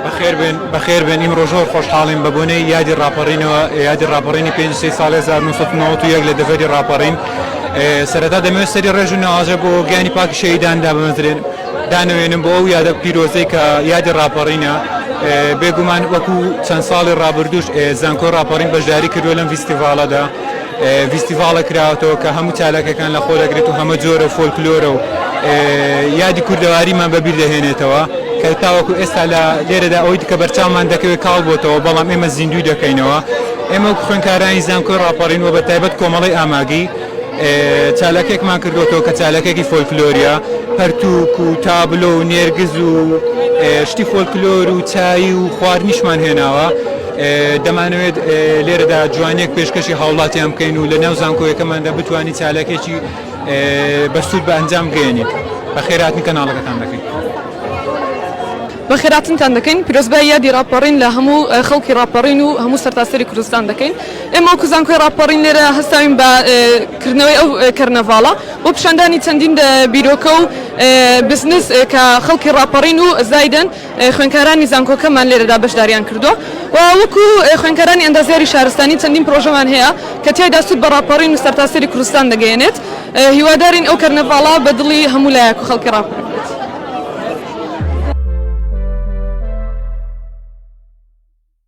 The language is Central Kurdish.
بەخێربێن بەخێربێن ئیمڕۆ زۆر خۆشحاڵین بە بۆنەی یادی ڕاپەڕینەوە یادی ڕاپەڕینی پێنج سەی ساڵی هەزار و نۆ سەد و نەوەد و یەک لە دەڤەری ڕاپەڕین ئێ، سەرەتا دەمەوێت سەری ڕێز و نەوازە بۆ گیانی پاکی شەهیدان دابمەزرێن دانەوێنم بۆ ئەو یادە پیرۆزەی کە یادی ڕاپەڕینە ئێ، بێگومان وەکوو چەند ساڵی ڕابردووش ئێ زانکۆی ڕاپەڕین بەشداری کردووە لەم ڤیستیڤاڵەدا. ڤیستیڤاڵێک کراوەتەوە کە هەموو چالاکیەکان لە خۆدەگرێت و هەمە جۆرە فۆلکلۆرە و یادی کوردەواریمان بە بیر دەهێنێتەوە کە تاوەکو ئێستا لە لێرەدا ئەوەی کە بەرچاومان دەکەوێت کاڵ بۆتەوە بەڵام ئێمە زیندووی دەکەینەوە ئێمە وەکو خوێنکارانی زانکۆی ڕاپەڕین و بە تایبەت کۆمەڵەی ئاماگی چالاکێکمان کردوەوە کە چالاکێکی فۆلکلۆریە پەرتوک و تابلۆ و نێرگز و شتی فۆلکلۆر و چایی و خواردنیشمان هێناوە دەمانەوێت لێرەدا جوانیەک پێشکەشی هاوڵاتیان بکەین و لە ناو زانکۆیەکەماندا بتوانین چالاکێکی بەسوود بە ئەنجام بگەیەنین بە خێراتن کەناڵەکەتان دەکەین. بە خێراتنتان دەکەین پیرۆزبای یادی ڕاپەڕین لە هەموو خەڵکی ڕاپەڕین و هەموو سەرتاسەری کوردستان دەکەین ئێمە وەکو زانکۆی ڕاپەڕین لێرە هەستاوین بە کردنەوەی ئەو کەرنەڤاڵە بۆ پیشاندانی چەندین بیرۆکە و بزنس کە خەڵکی ڕاپەڕین و زایدن خوێندکارانی زانکۆکەمان لێرەدا بەشدارییان کردووە و وەکو خوێندکارانی ئەندازیاری شارستانی چەندین پرۆژەمان هەیە کە تیایدا سوود بە ڕاپەڕین و سەرتاسەری کوردستان دەگەیەنێت، هیوادارین ئەو کەرنەڤاڵە بە دڵی هەموو لایەک و خەڵکی ڕاپەرین بێت.